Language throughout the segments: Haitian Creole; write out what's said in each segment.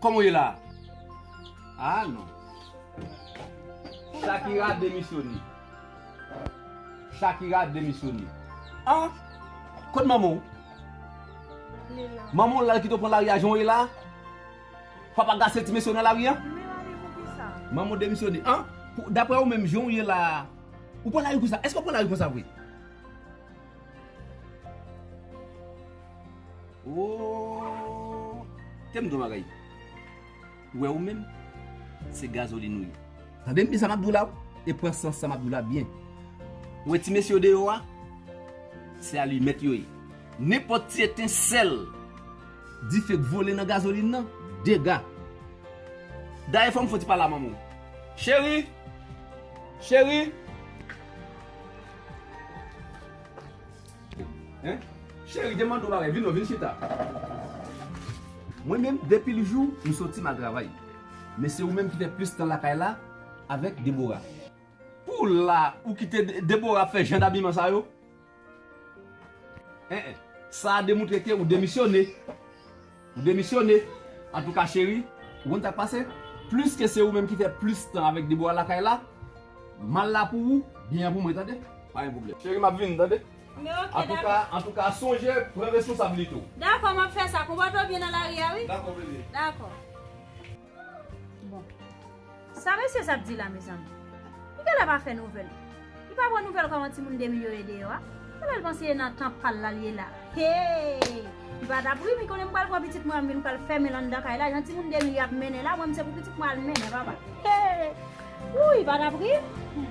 Kòman ou ye la a? Ah non. Shakira demisyone. Shakira demisyone. Ah! Kot manman w? Li la. Manman w la l kite w pran lari a jan w ye la a? Papa w ka se ti mesye w nan lari an? Li la wi poukisa? Manman w demisyone. Ah! Daprè ou menm jan w ye la a, ou pran lari konsa? Èske w pran lari konsa vre? Ooh Tem di w bagay Ou wè ou menm Se gazoline ou ye. Tande m byen sa map di w la e pran sans sa map di w la byen. Ou wè ti mesye yo deyò a Se alimèt yo ye. Nenpòt ti etensèl dife k vole nan gazoline nan dega. Dayè fò m fon ti pale a manman w. Cheri! Cheri! Cheri te mande w bagay vin non vin chita. Mwen menm depi l jou m soti m al travay men se ou menm ki fè plis tan lakay la avèk Deborah. Pou la ou kite Deborah ap fè jan dabiman sa yo? Sa a demoutre ke ou demisyone. Ou demisyone. Antouka cheri, ou konn sak pase? Pliske se ou menm ki fè plis tan avèk Debora lakay la, mal la pou ou, byen an pou mwen tande. Pa gen pwoblèm. Cheri map vini tande. Men ok dakò. Antouka sonje pran responsablite ou. Dakò map fè sa. Konpòte w byen nan lari a wi. Dakò bebe. Dakò. Bon. Sa mesye sa ap di la mezanmi? Li genlè pa fè nouvèl. Li pa pran nouvèl kòman timoun 2 mil yo ye deyò a? Genlè l panse e nan tan pa l la li ye la. Hee! Li pa tap ri, mi konnen m pral pran pitit mwen an m vin pral fèmen l anndan kay la, jan timoun 2 mil yo ap mennen la, mwen m se pou pitit mwen al mennen papa. Hee! Ooh li pa tap ri? Humm.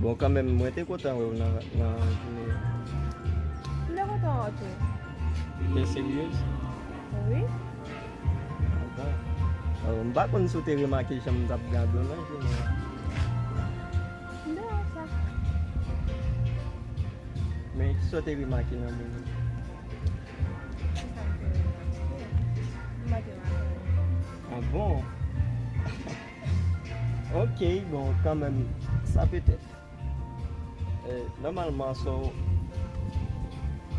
Bon kanmenm mwen te kontan wèw nan jounen an. M te kontan wè w tou. Ou te seryez? Wi. Bon. M pa konn si w te remake jan m t ap gade w nan jounen an. M te wè sa. Men kisa w te remake nan moun yo? Kisa m te remake? M pa te remake anyen. Ah bon? Ok bon kanmèm sa petèt Nòmalman so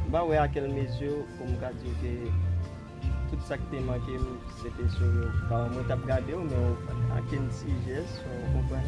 M pa wè a kèl mezi pou m ka di w ke tout sa k te manke m se te sou yo Paran mwen t ap gade w men ak yon ti jès ou konprann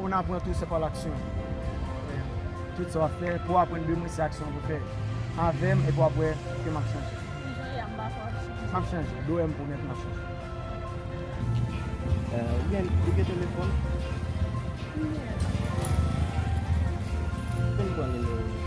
On apran tou se pa laksyon. Tout sa wap fè pou aprann de mwen se aksyon pou fè avèm epi wap wè ke map chanje. Ki jan yam ba fwa wap chanje. Map chanje, do em pwomèt map chanje. Ou gen ou gen telefon? Mwen gen el pa gen el. Fem pran nimewo li.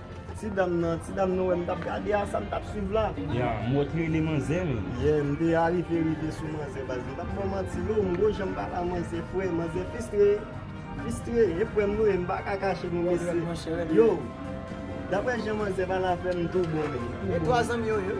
Ti dam nan, ti dam nou wè m tap gade a sa m tap swiv la. Ya, m wè w t rele manzè m. Yeah, m te arive rive sou manzè baz m pap baw manti non, m gwo janm pale a manzè frè, manzè fistre, fistre, e frè m nou ye m paka kache nou mesye, yo, daprè jan manzè pale avè m m tou bon men, m tou bon. E 3 zanmi yo ye?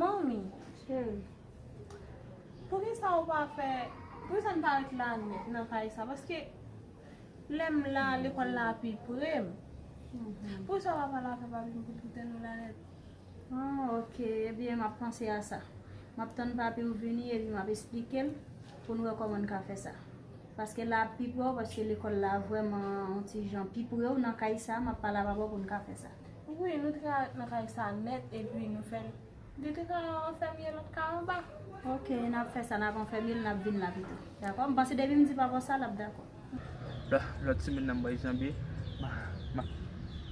Manmi, cheri, poukisa ou pa fè, poukisa n pa ret la nèt nan kay sa? Paske lè m la, lekòl la pi pre m. Poukisa ou pa pale avè papi m pou l kite nou la nèt? Bon, ok, ebyen m ap panse a sa. M ap tann papi m vini epi m ap esplike l pou n wè kòman n ka fè sa. Paske la ap pi prè w paske lekòl la vrèman on ti jan pi pre w nan kay sa, m ap pale avè w pou n ka fè sa. Wi, nou te ka ret nan kay sa nèt epi nou fè l. Li te ka yon enfèmye lòt kay anba. Ok, n ap fè sa, n ap enfèmye l, n ap vin la pito. Dakò? M panse depi m di papa w sa, l ap dakò. Lòt semèn nan m bay janbe, m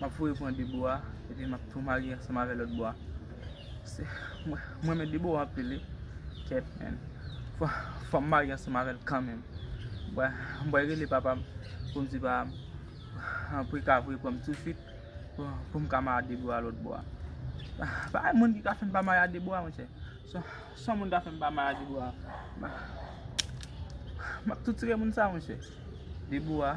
ap voye pran Debowa epi m ap tou marye ansanm avè lòt bwa. Mwen renmen Debowa anpil wi. Kèt menn. Fòm marye ansanm avèl kanmenm. M bwè rele papam poum di papam pou ka voye pranm tou swit poum ka mare a de bwa lòt bwa. Pa gen moun ki ka fèm pa mare a de bwa monchè. Son moun ka fèm pa mare a de bwa. Map toutire moun sa monchè. De bwa.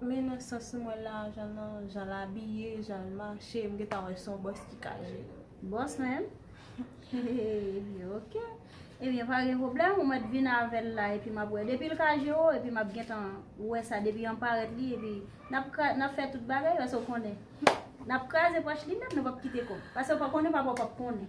Men nan sans m wè la jan nan jan l abiye jan l mache m gentan wè son bòs ki ka jwe. Bòs menm? Ebyen ok Ebyen pa gen pwoblèm ou mèt vin avè l la epi m ap wè depi l ka jwe o epi m ap gentan wè sa depi an parèt li epi n ap kra n ap fè tout bagay paske w konnen n ap kraze pòch li menm nou p ap kite kòb paske w pa konnen papa w p ap konnen.